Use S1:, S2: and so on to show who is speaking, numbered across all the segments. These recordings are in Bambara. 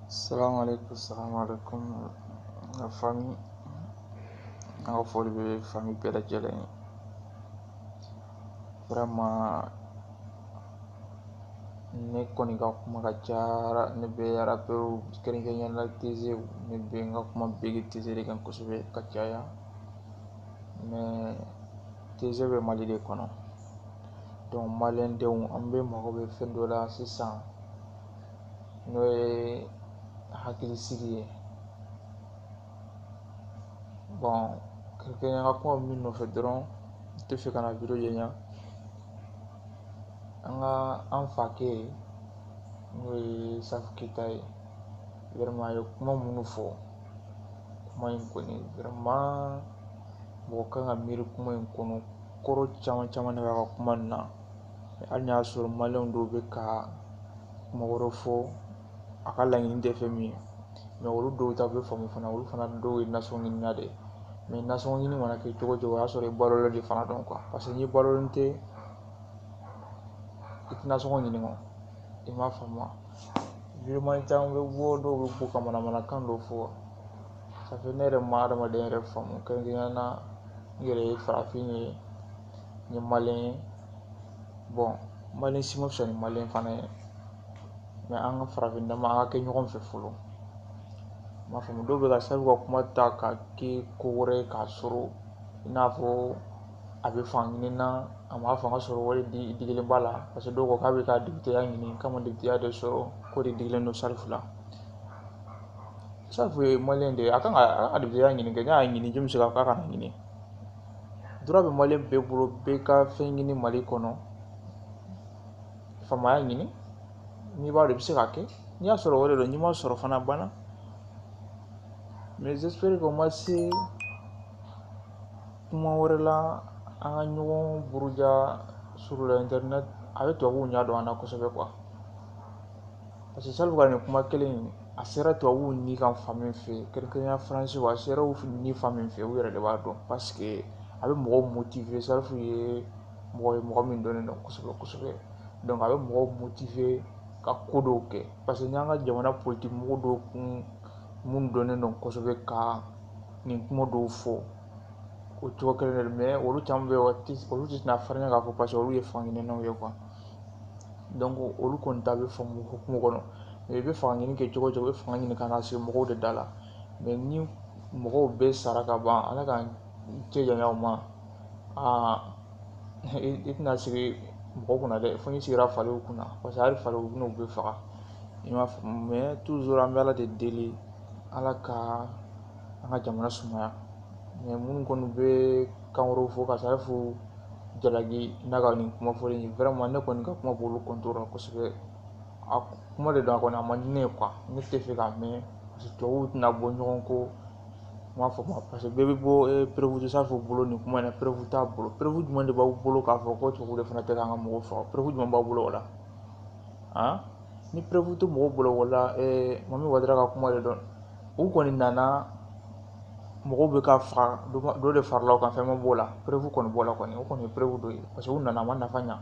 S1: Salam alaikum, salam alaikum, la famille. N ka foli bɛ fami bɛɛ lajɛlen ye. Vraiment ne kɔni ka kuma ka ca ne bɛ rappeur kɛrɛnkɛrɛnya la teze ne bɛ n ka kuma bege teze de kan kosɛbɛ ka caya mais teze bɛ mali de kɔnɔ donc maliyɛndenw an bɛɛ mago bɛ fɛn dɔ la sisan n'o ye hakilisigi ye bon kɛrɛnkɛrɛnya an ka kuma min nɔfɛ dɔrɔn n tɛ fɛ ka na vidéo janya an ka an fakɛ n'o ye safu keyita ye vraiment a ye kuma minnu fɔ kuma in kɔni vraiment mɔgɔ kan ka miiri kuma in kɔnɔ kɔrɔ caman caman de b'a ka kuma in na hali n'a y'a sɔrɔ maliyɛn dɔw bɛ ka kuma wɛrɛ fɔ a ka laɲini tɛ fɛn min ye olu dɔw ta bɛ faamu fana olu fana dɔw ye nasɔngɔ ɲinina de ye nasɔngɔ ɲini mana kɛ cogo o cogo o y'a sɔrɔ i balolen de fana don paseke n'i balolen tɛ i tɛ nasɔngɔ ɲini quoi i m'a faamu vidéoman caman bɛ bɔ dɔw bɛ bɔ ka manamanakan dɔw fɔ ça fait ne yɛrɛ ma adamadenya yɛrɛ faamu kɛrɛnkɛrɛnnenya na n yɛrɛ ye farafin ye n ye maliyɛn ye bon maliyɛn si ma fisa ni maliyɛn fana ye mais an ka farafin dama an ka kɛ ɲɔgɔn fɛ fɔlɔ i m'a faamu dɔw bɛ ka safu ka kuma ta ka kɛ ko wɛrɛ ye k'a sɔrɔ i n'a fɔ a bɛ fanga ɲini na a ma fanga sɔrɔ wari de digilen b'a la parce que dɔw ko k'a bɛ ka députéya ɲini k'a ma députéya de sɔrɔ k'o de digilen don safu la safu ye maliyɛn de ye a kan ka a ka députéya ɲini kɛ n'a y'a ɲini jɔn bɛ se k'a fɔ k'a kana ɲini droit bɛ mali bɛɛ bolo bɛɛ ka fɛn ɲini mali kɔnɔ faamaya ɲini n'i b'a dɔn i bɛ se k'a kɛ n'i y'a sɔrɔ o de don n'i m'a sɔrɔ fana banna mais j'espère que o ma se kuma wɛrɛ la an ka ɲɔgɔn buruja sur la internet a bɛ tubabuw ɲɛ don an na kosɛbɛ quoi parce que safu ka nin kuma kelen in a sera tubabuw ni kan fan min fɛ yen kɛrɛnkɛrɛnnenya faransi a sera u ni fan min fɛ u yɛrɛ de b'a dɔn paseke a bɛ mɔgɔw motive safu ye mɔgɔ ye mɔgɔ min dɔnnen don kosɛbɛ kosɛbɛ a bɛ mɔgɔw motive ka ko dɔw kɛ parce que n'an ka jamana politiki mɔgɔ dɔw kun minnu dɔnnen don kosɛbɛ ka nin kuma dɔw fɔ o cogo kelen de mais olu caman bɛ yen olu tɛ na farinya k'a fɔ paseke olu ye fankelennaw ye olu kɔni ta bɛ faamu hukumu kɔnɔ i bɛ fanga ɲini kɛ cogo o cogo i bɛ fanga ɲini ka na sigi mɔgɔw de da la mɛ ni mɔgɔw bɛɛ sara ka ban ala k'an cɛ janya o ma aa i tɛna sigi mɔgɔ kunna dɛ fo n'i sigira faliw kunna paseke hali faliw u bɛ n'u bɛɛ faga i m'a faamu mɛ tuzuru an bɛ ala de deli ala ka an ka jamana sumaya mɛ minnu kɔni bɛ kan wɛrɛw fɔ ka safu jalaki n'a ka nin kuma fɔlen in vraiment ne kɔni ka kuma b'olu kɔntiri la kosɛbɛ a kuma de don a kɔni a man di ne ye ne t'a fɛ k'a mɛn paseke tubabuw tɛna bɔ ɲɔgɔn kɔ i m'a faamu paseke bɛɛ b'a fɔ perewu tɛ safu bolo nin kuma in na perewu t'a bolo perewu jumɛn de b'aw bolo k'a fɔ ko tubabuw de fana tɛ k'an ka mɔgɔw faga perewu jumɛn b'aw bolo o la han ni perewu tɛ mɔgɔw bolo o la mami wadara ka kuma de don u kɔni nana mɔgɔw bɛ ka faga dɔ de farala o kan fɛn ma b'o la perewu kɔni b'o la kɔni o kɔni ye perewu dɔ ye parce que u nana a ma nafa ɲa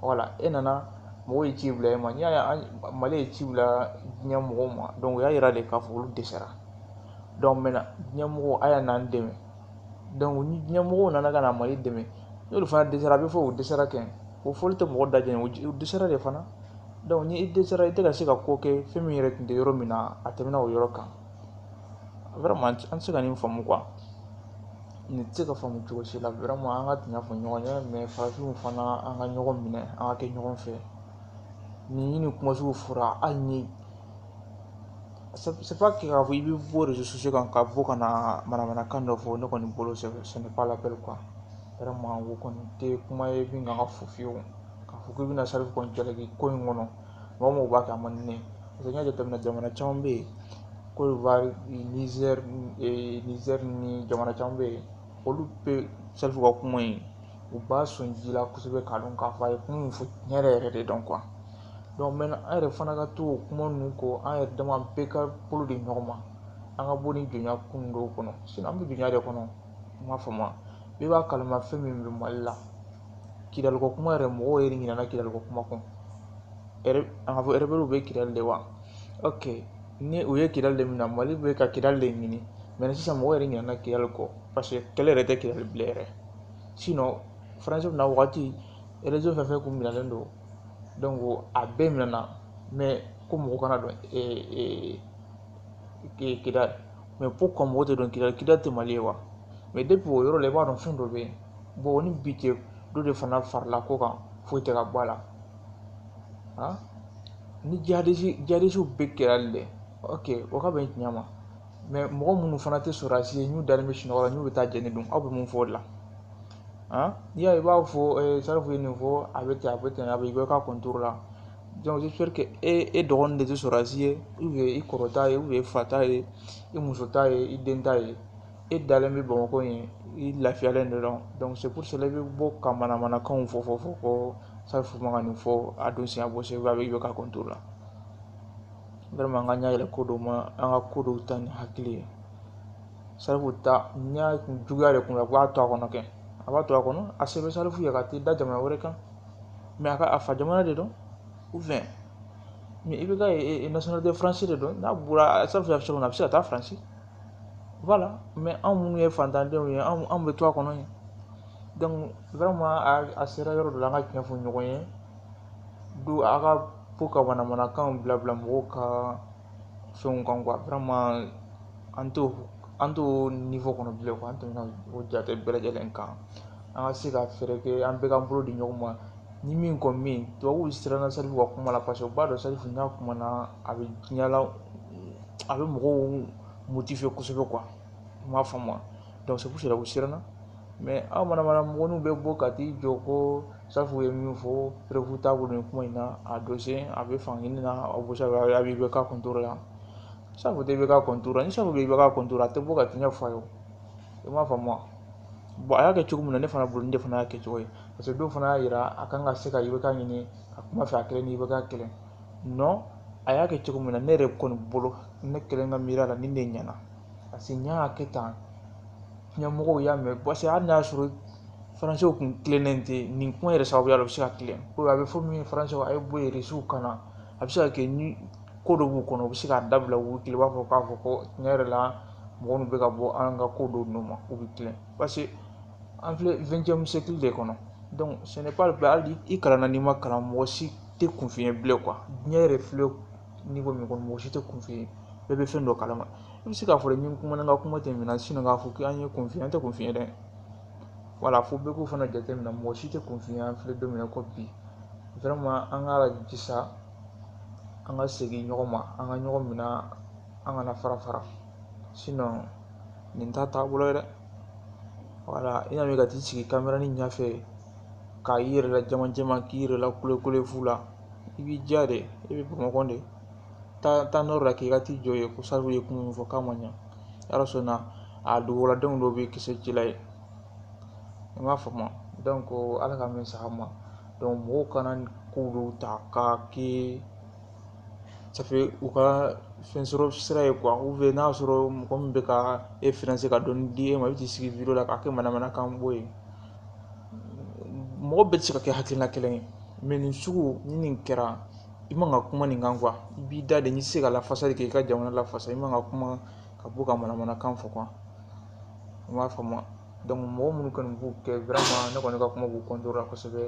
S1: wala e nana mɔgɔw ye ci bila e ma n'i y'a ye mali ye ci bila diɲɛ mɔgɔw ma dɔnku o y'a yira de k'a fɔ olu dɛsɛra dɔnku mɛntɛnan diɲɛ mɔgɔw a ye n'an dɛmɛ dɔnku ni diɲɛ mɔgɔw nana ka na mali dɛmɛ n'olu fana dɛsɛra a bɛ fɔ u dɛsɛra kɛ o fɔli tɛ mɔgɔ dajɛ u dɛsɛra de fana dɔnku ni i dɛsɛra i tɛ ka se ka ko kɛ fɛn min yɛrɛ tun tɛ yɔrɔ min na a tɛmɛna o yɔrɔ kan an tɛ se ka nin faamu nin tɛ se ka faamu cogo si la an ka tiɲɛ fɔ ɲɔgɔn ye mɛ farafinw fana an ka ɲɔgɔn minɛ an ka kɛ ɲɔgɔn fɛ ni nin kuma sugu fɔra hali ni k'a fɔ i bɛ bɔ erezo sosiyo kan ka bɔ ka na manamanakan dɔ fɔ ne kɔni bolo ce n'est pas la peine quoi o kɔni tɛ kuma ye min kan ka fɔ fiyewu k'a fɔ k'i bɛna safu kɔni jalaki ko in kɔnɔ mɔgɔ o mɔgɔ b'a kɛ a man di ne ye parce que n y'a jateminɛ jamana caman bɛ yen kodiwari nizɛri ni jamana caman bɛ yen olu bɛ safu ka kuma in u b'a sɔn ji la kosɛbɛ k'a dɔn k'a fɔ a ye kuma min fɔ tiɲɛ yɛrɛ yɛrɛ de don donc mɛ an yɛrɛ fana ka to o kuma ninnu kɔ an yɛrɛ dama bɛɛ ka bolo di ɲɔgɔn ma an ka bɔ nin jɔnya kun dɔw kɔnɔ sinɔn an bɛ jɔnya de kɔnɔ i m'a faamu wa bɛɛ b'a kalama fɛn min bɛ mali la kidaliko kuma yɛrɛ mɔgɔw yɛrɛ ɲinana kidaliko kuma kɔ an k'a fɔ erebɛliw bɛ kidali de wa ok ni u ye kidali de minɛ mali bɛ ka kidali de ɲini mɛ sisan mɔgɔ yɛrɛ ɲinana kidali kɔ parce que kɛlɛ yɛrɛ tɛ kidali bilen yɛrɛ sinɔn faransi na wagati erezɔn fɛn o fɛn kun minɛlen don donc a bɛɛ minɛna mɛ ko mɔgɔ kana don kidali mais pourquoi mɔgɔ tɛ don kidali kidali tɛ mali ye wa mais depuis o yɔrɔ la i b'a dɔn fɛn dɔ bɛ yen bon o ni bi cɛ dɔ de fana farala ko kan foyi tɛ ka bɔ a la ni jihadisiw bɛ kidali dɛ ok o ka bɛn tiɲɛ ma mais mɔgɔ minnu fana tɛ sɔrɔdasi ye n'u dalen bɛ sunɔgɔ la n'u bɛ taa jɛni dun aw bɛ mun fɔ o la n'i y'a ye i b'a fɔ salifu ye nin fɔ a bɛ ten a bɛ ten a bɛ IBK contre la donc j'espère que e e dɔgɔnin de tɛ sɔrɔdasi ye ou bien i kɔrɔ ta ye ou bien i fa ta ye i muso ta ye i den ta ye e dalen bɛ bamakɔ yen i lafiyalen de don donc c'est pour cela i bɛ bɔ ka manamanakanw fɔ fɔ fɔ ko salifu man ka nin fɔ a don siɲɛ bɔ segu a bɛ IBK contre la vraiment an ka ɲɛ yɛlɛ ko dɔw ma an ka ko dɔw ta ni hakili ye salifu ta n y'a juguya de kun na k'a to a kɔnɔ kɛ a b'a to a kɔnɔ a se bɛ salifu ye ka t'i da jamana wɛrɛ kan mais a ka a fa jamana de don ou bien mais IBK nationalité français de don n'a bɔra fɛn fɛn fɛn a bɛ se ka taa faransi voilà mais anw minnu ye faantandenw ye anw bɛ to a kɔnɔ yen a sera yɔrɔ dɔ la an ka tiɲɛ fɔ ɲɔgɔn ye don a ka to ka manamanakanw bila bila mɔgɔw ka fɛnw kan quoi an t'o an t'o niveau kɔnɔ bilen an tɛmɛna o jate bɛɛ lajɛlen kan an ka se ka fɛɛrɛ kɛ an bɛɛ ka bolo di ɲɔgɔn ma ni min kɔni bɛ yen tubabuw siranna salifu ka kuma la parce que u b'a dɔn salifu n'a kumana a bɛ diɲɛ la a bɛ mɔgɔw motiver kosɛbɛ quoi i m'a faamu donc c'est pour cela u siranna mais aw manamana mɔgɔninw bɛ bɔ ka t'i jɔ ko salifu ye min fɔ preuve t'a bolo nin kuma in na a dɔsen a bɛ fan kelen na aw bɛ se ka a bɛ IBK contre la salifu tɛ IBK contre ni salifu bɛ IBK contre a tɛ bɔ ka tiɲɛ fɔ a ye i m'a faamu a y'a kɛ cogo min na ne fana bolo nin fana y'a kɛcogo ye parce que dɔw fana y'a yira a kan ka se ka IBK ɲini ka kuma fɛ a kelen ni IBK kelen non a y'a kɛ cogo min na ne yɛrɛ kɔni bolo ne kelen ka miiri la nin de ɲɛna parce que n y'a kɛ tan ɲɛmɔgɔw y'a mɛn parce que hali n'a y'a sɔrɔ faransiw kun tilennen tɛ nin kuma yɛrɛ sababuya la u bɛ se ka tilen ko a bɛ fɔ min ye faransiw a ye bɔ yen rusiw ka na a bɛ se ka kɛ ni ko dɔ b'u kɔnɔ u bɛ se k'a dabila u tile b'a fɔ k'a fɔ ko tiɲɛ yɛrɛ la mɔgɔ minnu bɛ ka bɔ an ka ko dɔw nɔ ma u bɛ tilen parce que an filɛ vingtième siècle de kɔnɔ ce n'est pas que hali i kalanna n'i ma kalan mɔgɔ si tɛ kunfin ye bilen quoi diɲɛ yɛrɛ filɛ niveau min kɔnɔ mɔgɔ si tɛ kunfin ye bɛɛ bɛ fɛn dɔ kala ma i bɛ se k'a fɔ ni n kumana n ka kuma tɛ minɛ k'a fɔ k'an ye kunfin ye an tɛ kunfin ye dɛ voilà fo bɛɛ k'o fana jateminɛ mɔgɔ si tɛ kunfin ye an filɛ don min na ko bi an ka jija an ka segin ɲɔgɔn ma an ka ɲɔgɔn minɛ an kana fara fara nin t'a taabolo ye dɛ voilà i y'a ka t'i sigi caméra nin ɲɛfɛ k'a i yɛrɛ la jama jɛman k'i yɛrɛ la kulekule fu la i b'i diya de i bɛ bamakɔ de taa nord la k'i ka t'i jɔ yen ko salifu ye kuma min fɔ k'a ma ɲa yɔrɔ so na a duguladenw dɔw bɛ kisɛ ci la yen i m'a faamu donc ala ka min saga ma donc mɔgɔw kana k'olu ta k'a kɛ ça fait u ka fɛn sɔrɔ sira ye quoi ou bien n'a y'a sɔrɔ mɔgɔ min bɛ ka e financer ka dɔɔni di e ma i bɛ t'i sigi video la k'a kɛ manamanakan bɔ yen mɔgɔ bɛɛ tɛ se ka kɛ hakilina kelen ye mais nin sugu ni nin kɛra i man ka kuma nin kan quoi i b'i da de n'i tɛ se ka lafasali kɛ i ka jamana lafasa i man ka kuma ka bɔ ka manamanakan fɔ quoi i m'a faamu donc mɔgɔ minnu kɔni b'u kɛ vraiment ne kɔni ka kuma b'u contre la kosɛbɛ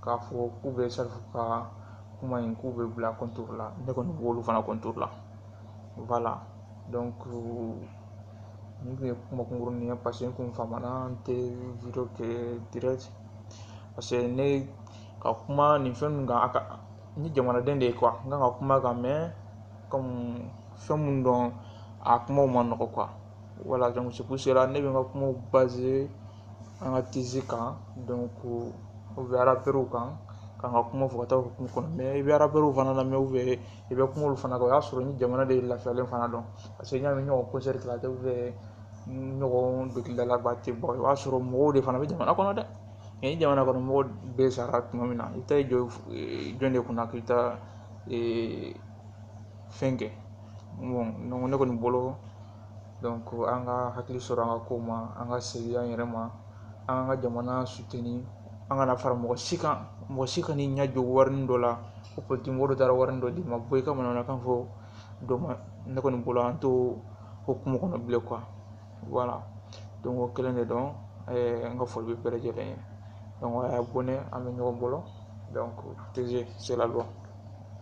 S1: k'a fɔ k'u bɛ salifu ka kuma in k'u bɛ bila contre la ne kɔni b'olu fana contre la voilà donc nin tun ye kuma kunkurunin ye parce que n kun famana n tɛ video kɛ direct parce que ne ka kuma nin fɛn ninnu kan a ka n ye jamanaden de ye n kan ka kuma kan fɛn minnu don a kumaw ma nɔgɔ voilà ne bɛ n ka kumaw baser an ka artistes kan donc ou bien rappeurs kan k'an ka kuma fɔ ka taa hukumu kɔnɔ mais i bɛ rappeurs fana lamɛn ou bien i bɛ kuma olu fana kan o y'a sɔrɔ ni jamana de lafiyalen fana don parce que n'i y'a mɛn ɲɔgɔn concert kɛla tɛ ɲɔgɔn dɔnkilidalaba tɛ bɔ i b'a sɔrɔ mɔgɔw de fana bɛ jamana kɔnɔ dɛ nka ni jamana kɔnɔ mɔgɔ bɛɛ sara tuma min na i taa i jɔ jɔn de kunna k'i ta fɛn kɛ ne kɔni bolo ko an ka hakili sɔrɔ an ka ko ma an ka segin an yɛrɛ ma an ka jamana soutenir an kana fara mɔgɔ si kan mɔgɔ si kan'i ɲɛ jɔ warini dɔ la ko politigi mɔgɔ dɔ taara warini dɔ d'i ma bɔ i ka manamanakan fɔ dɔ ma ne kɔni bolo an t'o hukumu kɔnɔ bilen wala don ko kelen de dɔn an ka foli bɛ bɛɛ lajɛlen ye an y'a bɔn ne an bɛ ɲɔgɔn bolo tz sela dɔn